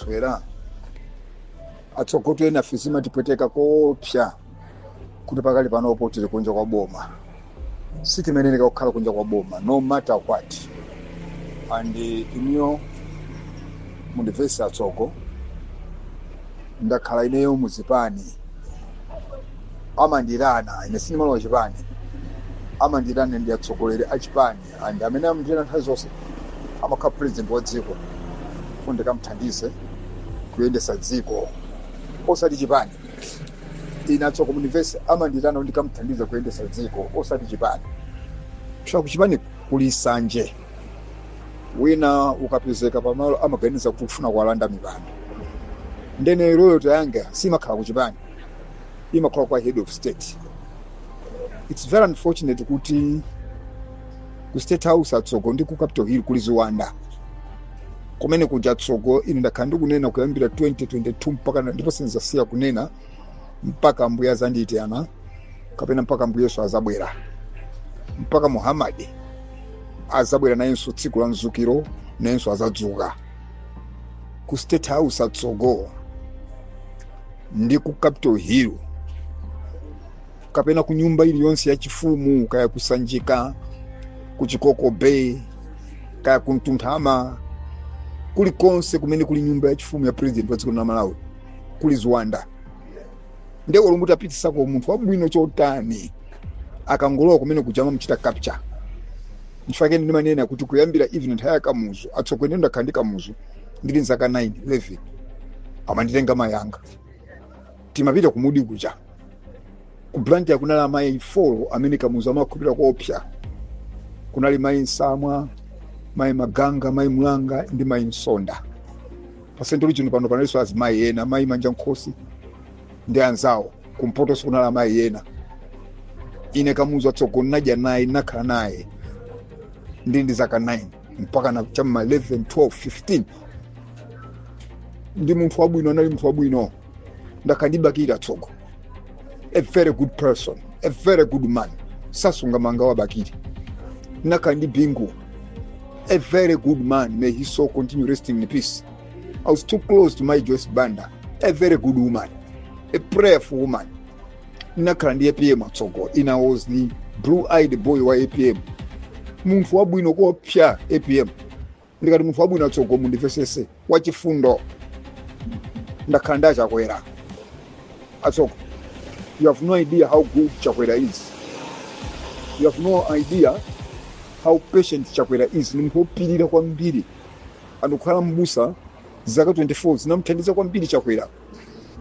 Toera atsogotu enafe zimatipweteka koopsa kuti pakali panopo tili kunja kwa boma sitimayeneka kukhala kunja kwa boma no matter what and inuyo mundimvese atsogo ndakhala ineyo muzipani amandiyitana ine sindimalowa chipani amandiyitana ndi atsogoleri a chipani and amene amandiyitana nthawi zonse amakhala president wa dziko kuti ndikamthandize kuyendesa dziko osati chipani ine atsogo mundimvese amandiyitana kuti ndikamthandize kuyendesa dziko osati chipani chifukwa kuchipani kuli sanje wina ukapezeka pamalo amaganiza kuti ufuna kuwalanda mipando nde ine loyalty yanga simakhala kuchipani imakhala kwa head of state its very unfortunate kuti ku state house atsogo ndi ku capital hill kuli ziwanda kumene kuja atsogo ine ndakhala ndikunena kuyambira 2022 mpaka na- ndipo sinzasiya kunena mpaka mbuye azandiyitana kapena mpaka mbuye yesu azabwera mpaka muhammadi azabwera nayenso tsiku la mzukiro nayenso azadzuka ku state house atsogo ndi ku capital hill kapena ku nyumba iliyonse yachifumu kaya ku sanjika ku chikoko bay kaya ku mtunthama kulikonse kumene kuli nyumba yachifumu ya president wa dziko la malawi kuli ziwanda ndiye olo mutapitisako munthu wabwino chotani akangolowa kumene kuja amamchita capture nchifake ndimanena kuti kuyambira even nthawi ya kamuzu atsogoleri ndakhala ndi kamuzu ndili nzaka 9 11 amanditenga mayi anga timapita ku mudi kuja ku blantyre kunali amayi 4 amene kamuzu amakhulupirira koopsa kunali mayi nsamwa mayi maganga mayi mlanga ndi mayi msonda pa central region pano panalinso azimayi ena mayi manjankhosi ndi anzawo kumpotoso kunali amayi ena ine kamuzu atsogo ndadya naye ndakhala naye ndili ndi zaka 9 mpaka na cha ma 11 12 15 ndi munthu wabwino anali munthu wabwino ndakandibakira tsogo a very good person a very good man sasunga manga wabakiri nakandi bingu a very good man may his soul continue resting in peace i was too close to my joyce banda a very good woman a prayerful woman ndinakhala ndi apm atsogo ine i was the blue eyed boy wa apm munthu wabwino koopsa apm ndikati munthu wabwino atsogo mundimvesese wachifundo ndakhala ndi achakwera atsogo you have no idea how good chakwera is you have no idea how patient chakwera is ndi munthu wopirira kwambiri anakhala mbusa zaka 24 zinamuthandiza kwambiri chakwera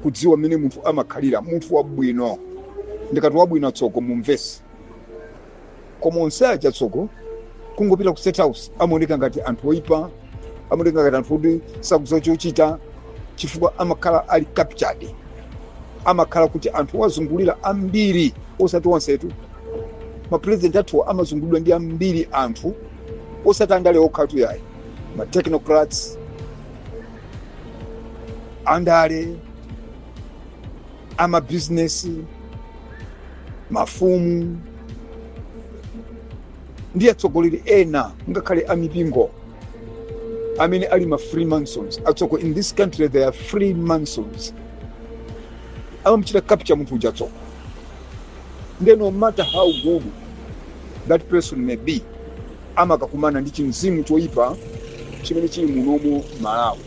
kudziwa mmene munthu amakhalira munthu wabwino ndikati wabwino atsogo mumvetse koma onse aja atsogo kungopita ku state house amaoneka ngati anthu oyipa amaoneka ngati anthu oti sakudziwa chochita chifukwa amakhala ali captured amakhala kuti anthu awazungulira ambiri osati onsetu mapurezidenti athuwa amazungulidwa ndi ambiri anthu osati andale okhatu yayi ma technocrats andale amabizinesi mafumu ndi atsogoleri ena ngakhale amipingo amene ali ma freemasons atsogo in this country there are freemasons amamuchita capture munthu uja atsogo nde no matter how good that person may be amakakumana ndi chimzimu choipa chimene chili munomo Malawi.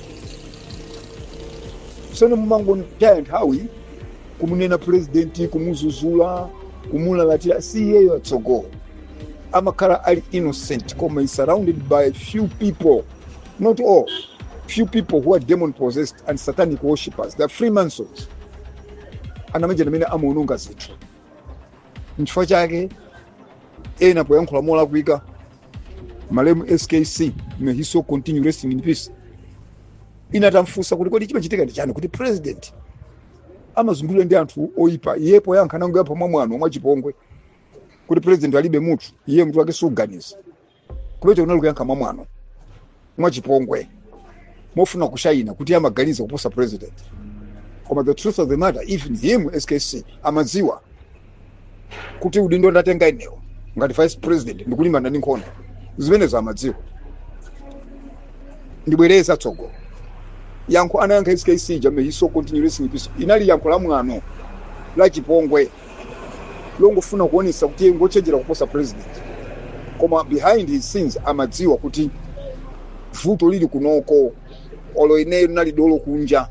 Sono mumangotaya nthawi kumunena purezidenti, kumuzuzula, kumulalatira, si iyeyo atsogo. Amakhala ali innocent koma is surrounded by few people, not all, few people who are demon possessed and satanic worshippers, they are Freemasons. Amene aja ndi amene amaononga zinthu nchifukwa chake ena poyankhula molakwika malemu skc may his soul continue resting in peace ena atamfunsa kuti kodi chimachitika ndi chani kuti president amazungulidwa ndi anthu oyipa iye poyankha anangoyankha mwamwano mwachipongwe kuti president alibe mutu iye mutu wake suganiza kumeneko kunali kuyankha mwamwano mwachipongwe mofuna kushayina kuti amaganiza kuposa president koma the truth of the matter even him skc amadziwa kuti udindo ndatenga inewo ngati vice president ndikulimbana ndi nkhondo zimenezo amadziwa ndibwereza atsogo yankho anayankha skc uja may his soul continue resting in peace linali yankho la mwano la chipongwe longofuna kuonetsa kuti iye ngochenjera kuposa president koma behind his scenes amadziwa kuti vuto lili kunoko olo ineyo ndinali dolo kunja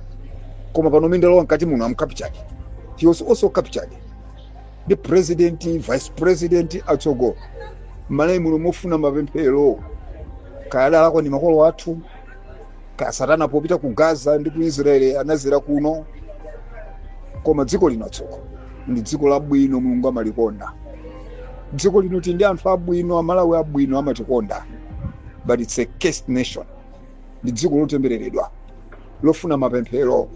koma pano mene ndalowa mkati muno am captured he was also captured the president vice president atsogo mmalawi muno mofuna mapemphero kaya adalakwa ndi makolo athu kaya satana popita ku gaza ndi ku israeli anazera kuno koma dziko lino atsogo ndi dziko labwino mulungu amalikonda dziko lino tili ndi anthu abwino amalawi abwino amatikonda but it's a cursed nation ndi dziko lotembereredwa lofuna mapemphero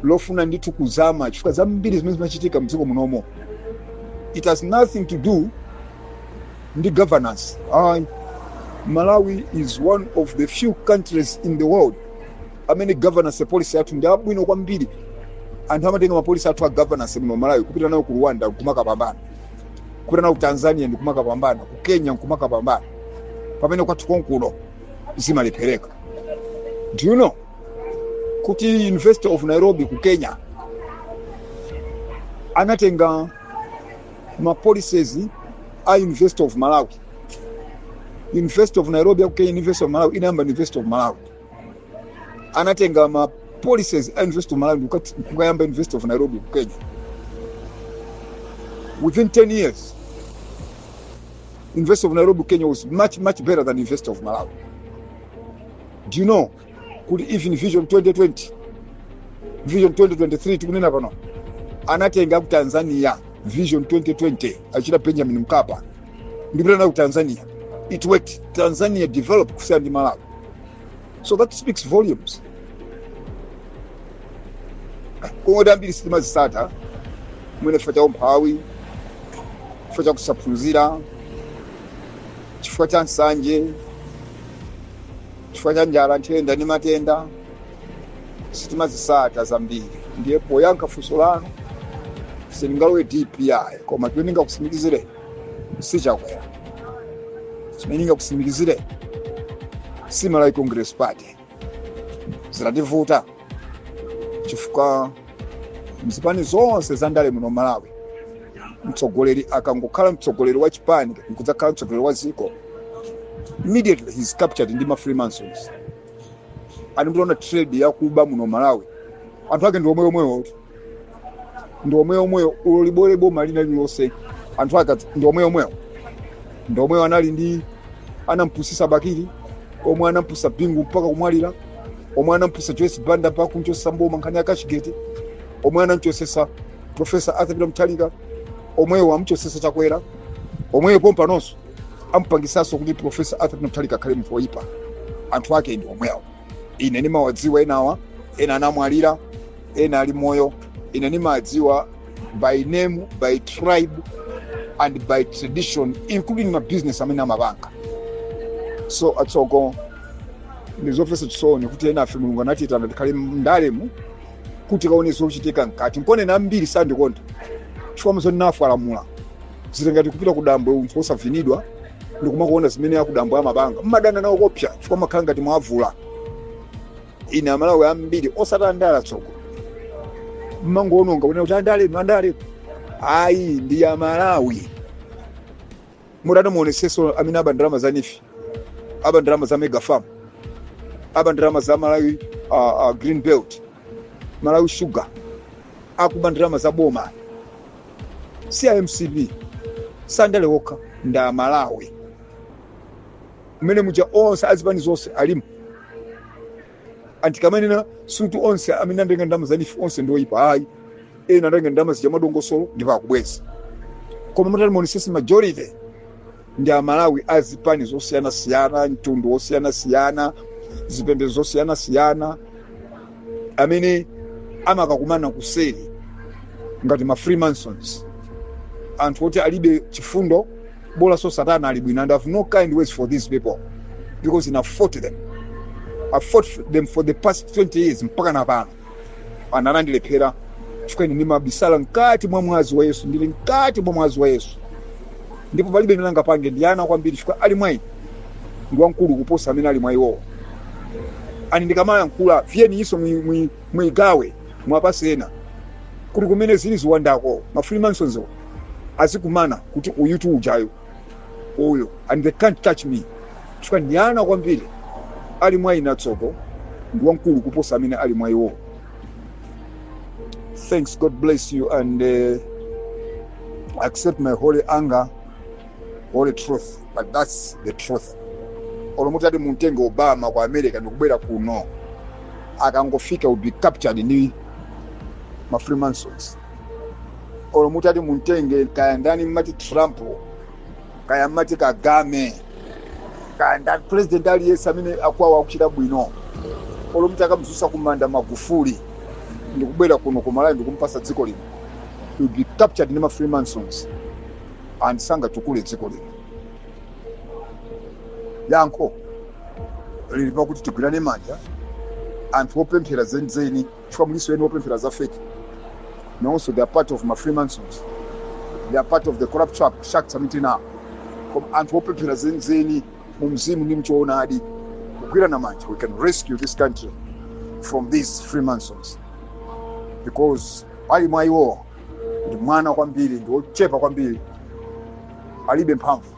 lofuna ndithu kuzama chifukwa zambiri zimene zimachitika mdziko munomo it has nothing to do ndi governance ayi malawi is one of the few countries in the world amene governance policy athu ndi abwino kwambiri anthu amatenga mapolisi athu a governance muno malawi kupita nawo ku rwanda nkumakapambana kupita nawo ku tanzania ndikumakapambana ku kenya nkumakapambana pamene kwathu konkuno zimalephereka do you know kuti university of nairobi ku kenya anatenga ma policies a University of Malawi. University of Nairobi akuke University of Malawi inayamba University of Malawi. Anatenga ma policies a University of Malawi ndikukati- kukayamba University of Nairobi ku Kenya. Within 10 years, University of Nairobi Kenya was much much better than University of Malawi. Do you know kuti even vision 2020 vision 2063 tikunena pano anatenga ku tanzania vision 2020 achina benjamin mkapa ndipita nayo ku tanzania it worked tanzania developed kusiyana ndi malawi so that speaks volumes kungoti zambiri sitimazisata mwina chifukwa cha umphawi chifukwa cha kusaphunzira chifukwa cha nsanje chifukwa cha njala nthenda ndi matenda sitimazisata zambiri ndiye poyankha funso lanu sindingalowe dpp koma chimene ndingakusimikizire ndi chakuti sinenanso ndingakusimikizire za malawi congress party zitativuta chifukwa mzipani zonse za ndale muno malawi mtsogoleri akangokhala mtsogoleri wa chipani nkudzakhala mtsogoleri wa dziko immediately he's captured ndi ma freemasons and mutaona trend yakuba muno malawi anthu ake ndi omweomwewo ndi omweomwewo olo libwere boma lina lilonse anthu ake adzi- ndi omweomwewo ndi omwewo anali ndi anampusisa bakili omwe anampusa bingu mpaka kumwalira omwe anampusa joyce banda mpaka kumchosa mboma nkhani ya cashgate omwe anamchosesa profesa arthur peter mutharika omwewo amchosesa chakwera omweyo pompanonso amupangisanso kuti profesa arthur peter mutharika akhale munthu woyipa anthu ake ndi omwewo ine nimawadziwa enawa ena anamwalira ena ali moyo ine nimawadziwa by name by tribe and by tradition including ma business amene amapanga so atsogo ndizomvesa chisoni kuti enafe mulungu anatiyitana tikhale mndalemu kuti tikaone zochitika mkati nkona ambiri sandikonda chifukwa muzonena mfwe alamula zili ngati kupita kudambwe munthu osavinidwa ndi kumakuona zimene akudambwe amapanga mmadana nawo kopsa chifukwa amakhala ngati mwavula ine amalawi ambiri osati andale atsogo mmangoononga kunena kuti andale inu andale inu. ayi ndi amalawi mutati muoneseso amene aba ndalama za neef aba ndalama za mega farm aba ndalama za malawi uh, uh, green belt malawi shuga akuba ndalama za boma si a mcp si andale okha ndi amalawi mmene muja onse azipani zonse alimo antikamanena sikuti onse amene andatenga ndalama za neef onse ndi oyipa ayi ena andatenga ndalama zija mwadongosolo ndipo akubweza koma mutati muonesese majority ndi amalawi a zipani zosiyanasiyana mtundu wosiyanasiyana zipembedzo zosiyanasiyana amene amakakumana kuseri ngati ma freemasons anthu oti alibe chifundo bolanso satana ali bwino and i have no kind words for these people because ine i fought them i fought them for the past 20 years mpaka napano anandilephera chifukwa ine ndimabisala mkati mwa mwazi wa yesu ndili mkati mwa mwazi wa yesu ndipo palibe amene angapange ndi ana kwambiri chifukwa ali mwa ine ndi wamkulu kuposa amene ali mwa iwowo ani ndikamayankhula fyeni iso mwigawe muwapatse ena kuti kumene zili ziwandako ma freemasons azikumana kuti uyu tu ujayo uyu and they can't touch me chifukwa ndi ana kwambiri ali mwa ine atsogo ndi wamkulu kuposa amene ali mwa iwo thanks god bless you and accept my holy anger holy truth but that's the truth olo muti ati mumtenge obama ku america ndikubwera kuno akangofika will be captured ndi ma freemasons olo muti ati mumtenge kaya ndani mmati trump kaya mmati kagame kaya ndani president aliyense amene akwawo akuchita bwino olo muti akamdzutsa kumanda magufuli ndikubwera kuno ku malawi ndikumpatsa dziko lino he will be captured ndi ma freemasons and sangatukule dziko lino yankho lili pakuti tigwirane manja anthu opemphera zenizeni chifukwa mulinso ena opemphera za feki nawonso they are part of ma freemasons they are part of the corrupt shark- sharks amene tinawo koma anthu opemphera zenizeni mu mzimu ndi mchoonadi kugwirana manja we can rescue this country from these freemasons because ali mwa iwowo ndi mwana kwambiri ndi ochepa kwambiri alibe mphamvu